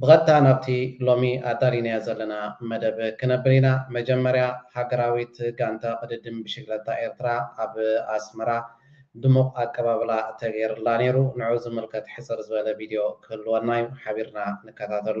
ብቐጥታ ናብቲ ሎሚ ኣዳሊናዮ ዘለና መደብ ክነብር ኢና። መጀመርያ ሃገራዊት ጋንታ ቅድድም ብሽግለታ ኤርትራ ኣብ ኣስመራ ድሙቕ ኣቀባብላ ተገይርላ ነይሩ። ንዕኡ ዝምልከት ሕጽር ዝበለ ቪድዮ ክህልወና'ዩ። ሓቢርና ንከታተሎ።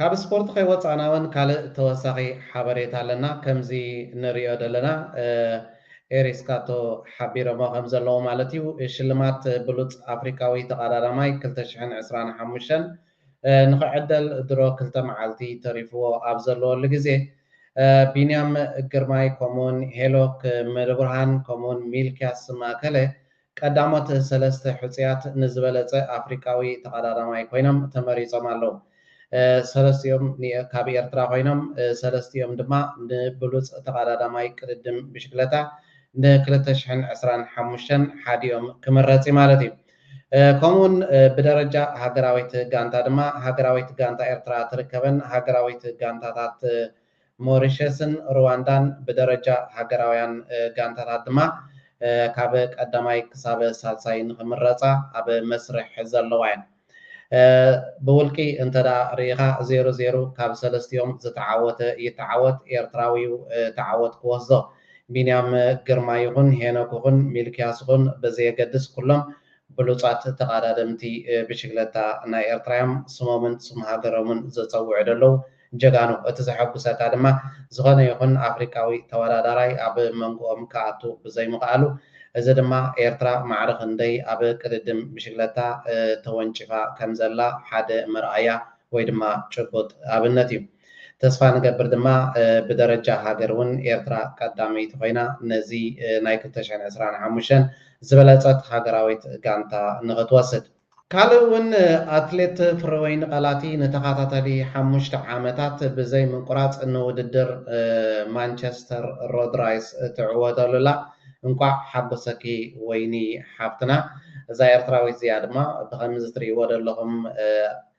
ካብ ስፖርት ከይወጻእና ውን ካልእ ተወሳኺ ሓበሬታ ኣለና ከምዚ ንሪኦ ደለና ኤሪስካቶ ሓቢሮሞ ከም ዘለዉ ማለት እዩ ሽልማት ብሉጽ ኣፍሪቃዊ ተቓዳዳማይ ክልተ ሽሕን ዕስራን ሓሙሽተን ንኽዕደል ድሮ ክልተ መዓልቲ ተሪፍዎ ኣብ ዘለወሉ ግዜ፣ ቢንያም ግርማይ ከምኡ'ውን ሄኖክ ምልብርሃን ከምኡ'ውን ሚልክያስ ማእከለ ቀዳሞት ሰለስተ ሕጹያት ንዝበለጸ ኣፍሪቃዊ ተቐዳዳማይ ኮይኖም ተመሪጾም ኣለዉ። ሰለስቲኦም ካብ ኤርትራ ኮይኖም፣ ሰለስቲኦም ድማ ንብሉጽ ተቐዳዳማይ ቅድድም ብሽክለታ ን ክልተ ሽሕን ዕስራን ሓሙሽተን ሓዲኦም ክምረጽ'ዩ ማለት'ዩ። ከምኡውን ብደረጃ ሃገራዊት ጋንታ ድማ ሃገራዊት ጋንታ ኤርትራ ትርከበን ሃገራዊት ጋንታታት ሞሪሸስን ሩዋንዳን ብደረጃ ሃገራውያን ጋንታታት ድማ ካብ ቀዳማይ ክሳብ ሳልሳይ ንኽምረጻ ኣብ መስርሕ ዘለዋ እየን። ብውልቂ እንተ ርኢኻ ዜሮ ዜሮ ካብ ሰለስቲኦም ዝተዓወተ ይተዓወት ኤርትራዊዩ ተዓወት ክወስዞ። ቢንያም ግርማ ይኹን ሄኖክ ይኹን ሚልክያስ ይኹን ብዘየገድስ ኩሎም ብሉጻት ተቓዳደምቲ ብሽግለታ ናይ ኤርትራ እዮም። ስሞምን ስም ሃገሮምን ዘጸውዑ ደለዉ ጀጋኑ። እቲ ዘሐጉሰካ ድማ ዝኾነ ይኹን ኣፍሪቃዊ ተወዳዳራይ ኣብ መንጎኦም ክኣቱ ብዘይምኽኣሉ። እዚ ድማ ኤርትራ ማዕረ ክንደይ ኣብ ቅድድም ብሽግለታ ተወንጪፋ ከምዘላ ሓደ መርኣያ ወይ ድማ ጭቡጥ ኣብነት እዩ። ተስፋ ንገብር ድማ ብደረጃ ሃገር እውን ኤርትራ ቀዳመይቲ ኮይና ነዚ ናይ ክልተ ሽሕን ዕስራን ሓሙሽተን ዝበለጸት ሃገራዊት ጋንታ ንኽትወስድ። ካልእ እውን ኣትሌት ፍረወይኒ ቀላቲ ንተኻታታሊ ሓሙሽተ ዓመታት ብዘይ ምቁራጽ ንውድድር ማንቸስተር ሮድ ራይስ ትዕወተሉ ኣላ። እንቋዕ ሓጎሰኪ ወይኒ ሓፍትና። እዛ ኤርትራዊት እዚኣ ድማ ብኸምዚ ትርእይዎ ዘለኹም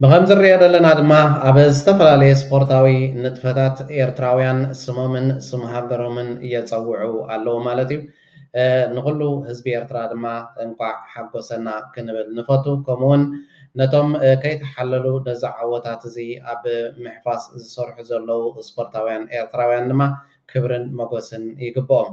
ብኸምዚ ንሪኦ ዘለና ድማ ኣብ ዝተፈላለየ ስፖርታዊ ንጥፈታት ኤርትራውያን ስሞምን ስም ሃገሮምን የጸውዑ ኣለዉ ማለት እዩ። ንኹሉ ህዝቢ ኤርትራ ድማ እንቋዕ ሓጎሰና ክንብል ንፈቱ። ከምኡውን ነቶም ከይተሓለሉ ነዚ ዓወታት እዚ ኣብ ምሕፋስ ዝሰርሑ ዘለዉ ስፖርታውያን ኤርትራውያን ድማ ክብርን መጎስን ይግብኦም።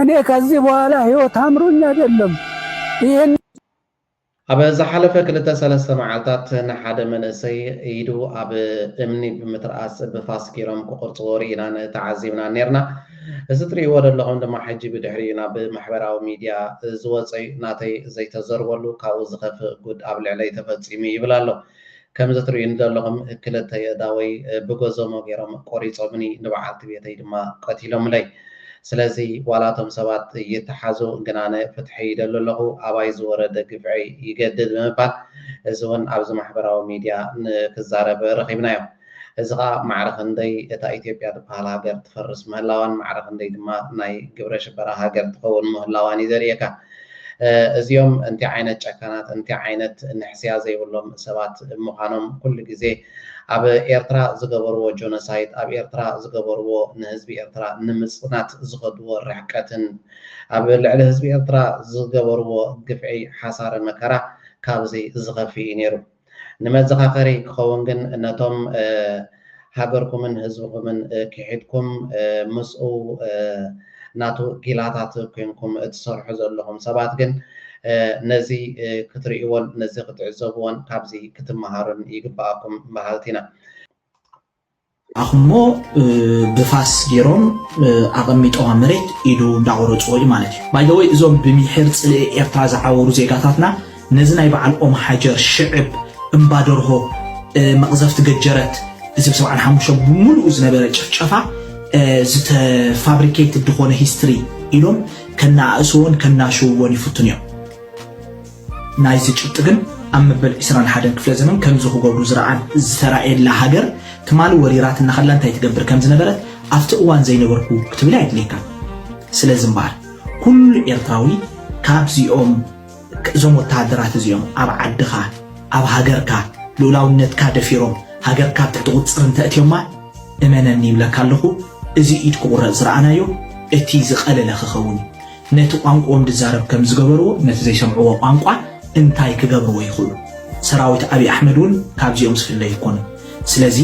እኔ ከዚህ በኋላ ህይወት አምሮኝ አይደለም ይህን። ኣብ ዝሓለፈ ክልተ ሰለስተ መዓልታት ንሓደ መንእሰይ ኢዱ ኣብ እምኒ ብምትርኣስ ብፋስ ጌሮም ክቑርጽዎ ርኢናን ተዓዚብናን ኔርና። እዚ ትርእይዎ ደለኹም ድማ ሕጂ ብድሕሪኡ ናብ ማሕበራዊ ሚድያ ዝወጸ'ዩ። ናተይ ዘይተዘርበሉ ካብኡ ዝኸፍእ ጉድ ኣብ ልዕለይ ተፈጺሙ ይብል ኣሎ። ከምዚ ትርእዩኒ ዘለኹም ክልተ የእዳወይ ብጎዞሞ ጌሮም ቆሪጾምኒ ንበዓልቲ ቤተይ ድማ ቀቲሎምለይ ስለዚ ዋላ እቶም ሰባት ይተሓዙ ግን ኣነ ፍትሒ ይደሊ ኣለኹ ኣባይ ዝወረደ ግፍዒ ይገድድ ብምባል እዚ ውን ኣብዚ ማሕበራዊ ሚድያ ክዛረብ ረኺብናዮ። እዚ ከኣ ማዕረ ክንደይ እታ ኢትዮጵያ ትበሃል ሃገር ትፈርስ ምህላዋን ማዕረ ክንደይ ድማ ናይ ግብረ ሽበራ ሃገር ትኸውን ምህላዋን እዩ ዘርእየካ። እዚኦም እንታይ ዓይነት ጨካናት እንታይ ዓይነት ንሕስያ ዘይብሎም ሰባት ምዃኖም ኩሉ ግዜ ኣብ ኤርትራ ዝገበርዎ ጆኖሳይድ ኣብ ኤርትራ ዝገበርዎ ንህዝቢ ኤርትራ ንምጽናት ዝኸድዎ ርሕቀትን ኣብ ልዕሊ ህዝቢ ኤርትራ ዝገበርዎ ግፍዒ ሓሳረ መከራ ካብዚ ዝኸፍእ እዩ ነይሩ። ንመዘኻኸሪ ክኸውን ግን ነቶም ሃገርኩምን ህዝብኹምን ኪሒድኩም ምስኡ ናቱ ጊላታት ኮይንኩም እትሰርሑ ዘለኹም ሰባት ግን ነዚ ክትርእይዎን ነዚ ክትዕዘብዎን ካብዚ ክትመሃሩን ይግበኣኩም በሃልቲ ኢና። ኣኹሞ ብፋስ ጌሮም ኣቐሚጦዋ መሬት ኢዱ እንዳቖረጽዎ እዩ ማለት እዩ። ባይ ዘ ወይ እዞም ብሚሒር ጽልኢ ኤርትራ ዝዓወሩ ዜጋታትና ነዚ ናይ በዓል ኦምሓጀር ሽዕብ እምባ ደርሆ መቕዘፍቲ ገጀረት እዚ ብ ሰብዓን ሓሙሽተን ብምሉኡ ዝነበረ ጭፍጨፋ ዝተ ፋብሪኬትድ ዝኾነ ሂስትሪ ኢሎም ከነኣእስዎን ከናሽውዎን ይፍትኑ እዮም። ናይዚ ጭብጢ ግን ኣብ መበል ዕስራን ሓደን ክፍለ ዘመን ከምዚ ክገብሩ ዝረኣን ዝተራእየላ ሃገር ትማሊ ወሪራትና ከላ እንታይ ትገብር ከም ዝነበረት ኣብቲ እዋን ዘይነበርኩ ክትብል ኣየድልየካን። ስለዚ እምበኣር ኩሉ ኤርትራዊ ካብዚኦም እዞም ወተሃደራት እዚኦም ኣብ ዓድኻ ኣብ ሃገርካ ልኡላውነትካ ደፊሮም ሃገርካ ኣብ ትሕቲ ቁጽጽር እንተ እትዮማ እመነኒ ይብለካ ኣለኹ እዚ ኢድ ክቑረጽ ዝረኣናዮ እቲ ዝቐለለ ክኸውን እዩ። ነቲ ቋንቁኦም ድዛረብ ከም ዝገበርዎ ነቲ ዘይሰምዕዎ ቋንቋ እንታይ ክገብርዎ ይኽእሉ ሰራዊት ኣብይ ኣሕመድ ውን ካብዚኦም ዝፍለ ኣይኮኑን ስለዚ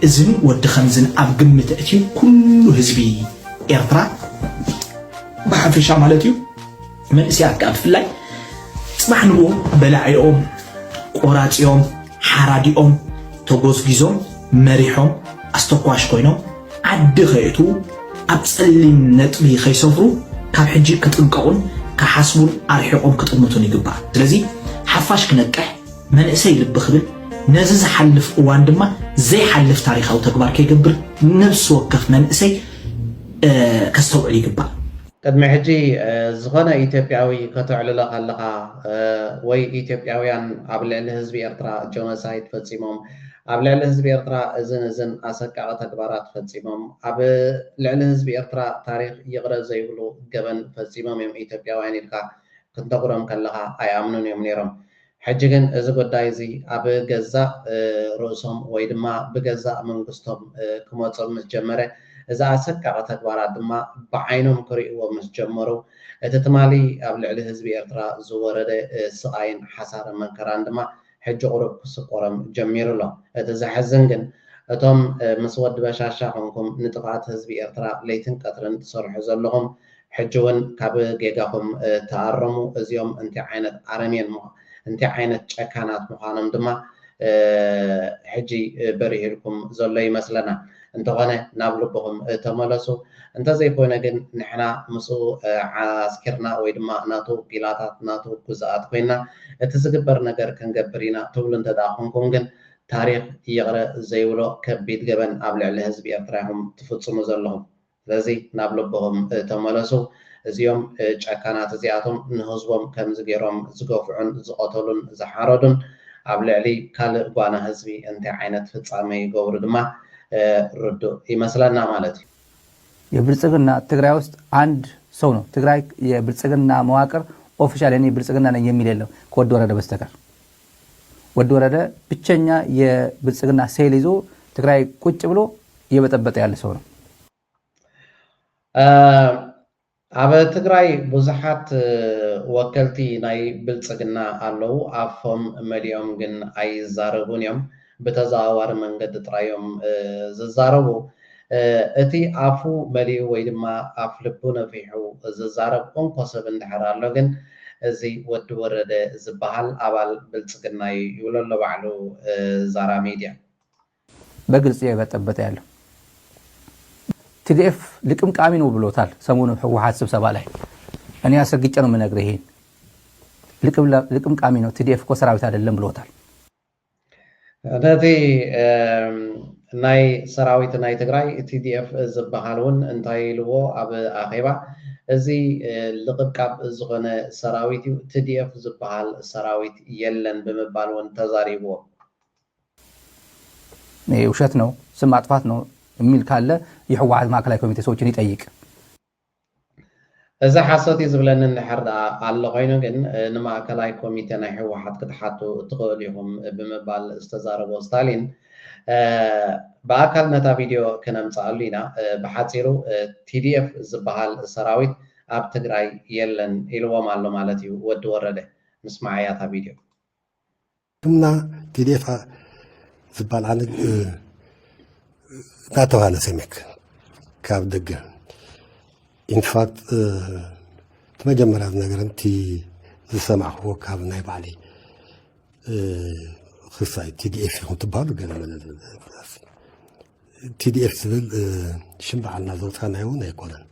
እዝን ወዲ ከምዝን ኣብ ግምት ኣእትዩ ኩሉ ህዝቢ ኤርትራ ብሓፈሻ ማለት እዩ መንእስያት ከኣ ብፍላይ ጽባሕ ንግሆ በላዒኦም ቆራጺኦም ሓራዲኦም ተጎዝጊዞም መሪሖም ኣስተኳሽ ኮይኖም ዓዲ ከየእትዉ ኣብ ጸሊም ነጥቢ ከይሰፍሩ ካብ ሕጂ ክጥንቀቑን ክሓስቡን ኣርሒቖም ክጥምቱን ይግባእ። ስለዚ ሓፋሽ ክነቅሕ፣ መንእሰይ ልቢ ክብል፣ ነዚ ዝሓልፍ እዋን ድማ ዘይሓልፍ ታሪኻዊ ተግባር ከይገብር ነብሲ ወከፍ መንእሰይ ከስተውዕል ይግባእ። ቅድሚ ሕጂ ዝኾነ ኢትዮጵያዊ ከተዕልሎ ከለኻ ወይ ኢትዮጵያውያን ኣብ ልዕሊ ህዝቢ ኤርትራ ጆኖሳይድ ፈጺሞም ኣብ ልዕሊ ህዝቢ ኤርትራ እዝን እዝን ኣሰቃቒ ተግባራት ፈጺሞም ኣብ ልዕሊ ህዝቢ ኤርትራ ታሪኽ ይቕረ ዘይብሉ ገበን ፈጺሞም እዮም ኢትዮጵያውያን ኢልካ ክትነግሮም ከለኻ ኣይኣምኑን እዮም ኔሮም ሕጂ ግን እዚ ጉዳይ እዚ ኣብ ገዛእ ርእሶም ወይ ድማ ብገዛእ መንግስቶም ክመጾም ምስ ጀመረ፣ እዚ ኣሰቃቒ ተግባራት ድማ ብዓይኖም ክርእይዎ ምስ ጀመሩ፣ እቲ ትማሊ ኣብ ልዕሊ ህዝቢ ኤርትራ ዝወረደ ስቓይን ሓሳረ መንከራን ድማ ሕጂ ቁሩብ ክስቆሮም ጀሚሩ ኣሎ። እቲ ዘሕዝን ግን እቶም ምስ ወዲ በሻሻ ኮንኩም ንጥፍኣት ህዝቢ ኤርትራ ለይትን ቀትርን ትሰርሑ ዘለኹም ሕጂ ውን ካብ ጌጋኹም ተኣረሙ እዚኦም እንታይ ዓይነት ኣረሜን እንታይ ዓይነት ጨካናት ምዃኖም ድማ ሕጂ በሪህልኩም ዘሎ ይመስለና እንተኾነ ናብ ልብኹም ተመለሱ እንተዘይኮይነ ግን ንሕና ምስኡ ዓስኪርና ወይ ድማ ናቱ ጊላታት ናቱ ግዙኣት ኮይና እቲ ዝግበር ነገር ክንገብር ኢና ትብሉ እንተድኣ ኮንኩም ግን ታሪኽ ይቕረ ዘይብሎ ከቢድ ገበን ኣብ ልዕሊ ህዝቢ ኤርትራ ኢኹም ትፍጽሙ ዘለኹም። ስለዚ ናብ ልብኹም ተመለሱ እዚኦም ጨካናት እዚኣቶም ንህዝቦም ከምዚ ጌሮም ዝገፍዑን ዝቐተሉን ዝሓረዱን ኣብ ልዕሊ ካልእ ጓና ህዝቢ እንታይ ዓይነት ፍጻሜ ይገብሩ ድማ ርዱእ ይመስለና ማለት እዩ። የብልጽግና ትግራይ ውስጥ ኣንድ ሰው ነው ትግራይ የብልጽግና መዋቅር ኦፊሻል የኔ ብልጽግና ነኝ የሚል የለም ከወዲ ወረደ በስተቀር ወዲ ወረደ ብቸኛ የብልፅግና ሴል ይዞ ትግራይ ቁጭ ብሎ የበጠበጠ ያለ ሰው ነው። ኣብ ትግራይ ብዙሓት ወከልቲ ናይ ብልፅግና ኣለው ኣፎም መሊኦም ግን ኣይዛረቡን እዮም። ብተዘዋዋሪ መንገዲ ጥራይ እዮም ዝዛረቡ። እቲ ኣፉ መሊኡ ወይ ድማ ኣፍ ልቡ ነፊሑ ዝዛረብ እንኮ ሰብ እንድሕር ኣሎ ግን እዚ ወዲ ወረደ ዝበሃል ኣባል ብልፅግና እዩ ይብሎ ኣሎ ባዕሉ ዛራ ሚድያ። በግልፂ የበጠበጠ ያለው ትዲኤፍ ልቅምቃሚ ነው ብሎታል ሰሞኑ ህወሓት ስብሰባ ላይ እኔ አስረግጬ ነው ምነግርህ ይሄን ልቅምቃሚ ነው ትዲኤፍ እኮ ሰራዊት አይደለም ብሎታል። ነቲ ናይ ሰራዊት ናይ ትግራይ TDF ዝብሃል ውን እንታይ ኢልዎ ኣብ ኣኼባ እዚ ልቕብቃብ ዝኾነ ሰራዊት ዩ TDF ዝብሃል ሰራዊት የለን ብምባል ውን ተዛሪብዎ። ውሸት ነው ስም ማጥፋት ነው እሚል ካለ የሕዋሐት ማእከላይ ኮሚቴ ሰዎችን ይጠይቅ። እዚ ሓሶት እዩ ዝብለኒ እንድሕር ደኣ ኣሎ ኮይኑ ግን ንማእከላይ ኮሚቴ ናይ ህወሓት ክትሓቱ እትኽእሉ ኢኹም ብምባል ዝተዛረቦ ስታሊን ብኣካል ነታ ቪድዮ ክነምጽኣሉ ኢና። ብሓጺሩ tdf ዝበሃል ሰራዊት ኣብ ትግራይ የለን ኢልዎም ኣሎ ማለት እዩ ወዲ ወረደ። ንስምዓያ እታ ቪድዮ። እና ቲዴፋ ዝበል ዓለ እናተባህለ ሰሚክ ካብ ደገ ኢንፋት እቲ መጀመርያ ዝነገረ እቲ ዝሰማዕክዎ ካብ ናይ ባዕሊ ክሳይ ቲዲኤፍ ይኹን ትበሃሉ ገለ መለ ቲዲኤፍ ዝብል ሽም ባዕልና ዘውፃእናዮ እውን ኣይኮነን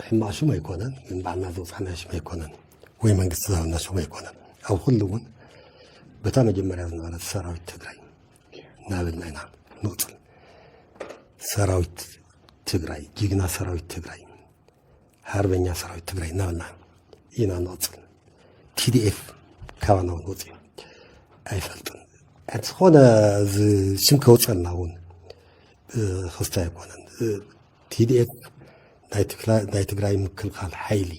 ሕማቅ ሽም ኣይኮነን ግን ባዕልና ዘውፃእናዮ ሽም ኣይኮነን ወይ መንግስቲ ዝሃበና ሽም ኣይኮነን ኣብ ኩሉ እውን በታ መጀመርያ ዝነበረት ሰራዊት ትግራይ እናበልና ኢና ንቕፅል ሰራዊት ትግራይ ጅግና ሰራዊት ትግራይ ሃርበኛ ሰራዊት ትግራይ እናበልና ኢና ንቕፅል ቲዲኤፍ ካባና እውን ወፂኡ ኣይፈልጥን ሕቲ ዝኾነ ሽም ከውፀና እውን ክስተ ኣይኮነን ቲዲኤፍ ናይ ትግራይ ምክልኻል ሓይሊ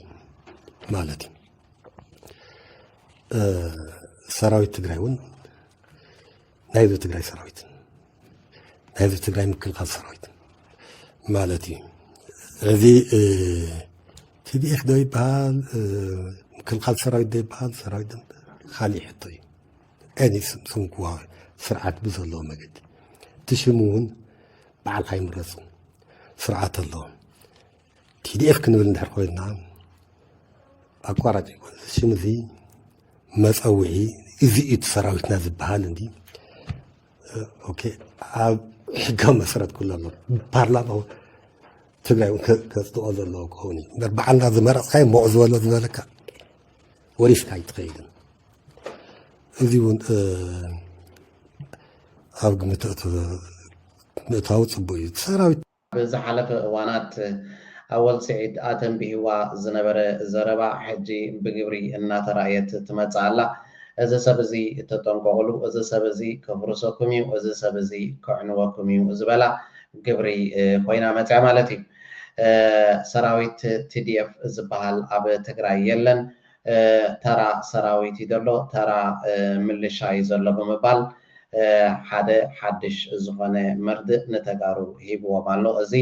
ማለት እዩ ሰራዊት ትግራይ እውን ናይዚ ትግራይ ሰራዊት ናይ ህዝቢ ትግራይ ምክልኻል ሰራዊት ማለት እዩ እዚ ቲዲኤፍ ዶ ይበሃል ምክልኻል ሰራዊት ዶ ይበሃል ሰራዊት ካሊእ ሕቶ እዩ ኤኒ ስም ክዋ ስርዓት ብዘለዎ መገዲ እቲ ሽሙ እውን በዓልካ ይምረፁ ስርዓት ኣሎ ቲዲኤፍ ክንብል እንድሕር ኮይና ኣቋራጭ ይኮን እዚ ሽም እዚ መፀውዒ እዚ እዩ እቲ ሰራዊትና ዝበሃል እንዲ ኦኬ ኣብ ሕጋዊ መሰረት ኩሉ ኣሎ ፓርላማ እውን ትግራይ እውን ከ- ከጽድቆ ዘለዎ ክኸውን እዩ እምበር በዓልና ዝመረፅካዮ ሞቕ ዝበሎ ዝበለካ ወሪስካ ኣይትኸይድን እዚ እውን እ፣ ኣብ ግምት እት- ምእታው ፅቡቅ እዩ እቲ ሰራዊት ኣብ ዝሓለፈ እዋናት ኣወል ስዒድ ኣተንቢህዋ ዝነበረ ዘረባ ሕጂ ብግብሪ እናተራእየት ትመጽእ ኣላ። እዚ ሰብ እዚ ተጠንቀቑሉ፣ እዚ ሰብ እዚ ከፍርሰኩም እዩ፣ እዚ ሰብ እዚ ከዕንወኩም እዩ ዝበላ ግብሪ ኮይና መጺኣ ማለት እዩ። ሰራዊት TDF ዝበሃል ኣብ ትግራይ የለን። ተራ ሰራዊት እዩ ዘሎ፣ ተራ ምልሻ እዩ ዘሎ ብምባል ሓደ ሓድሽ ዝኾነ መርድእ ንተጋሩ ሂብዎም ኣሎ እዚ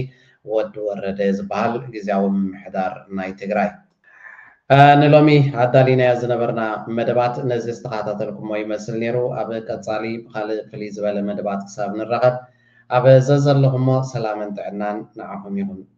ወድ ወረደ ዝበሃል ግዝያዊ ምምሕዳር ናይ ትግራይ። ንሎሚ ኣዳሊናዮ ዝነበርና መደባት ነዚ ዝተኻታተልኩሞ ይመስል ነይሩ። ኣብ ቀጻሊ ብኻልእ ፍልይ ዝበለ መደባት ክሳብ ንራኸብ ኣብ ዘዘለኹሞ ሰላምን ጥዕናን ንዓኹም ይኹን።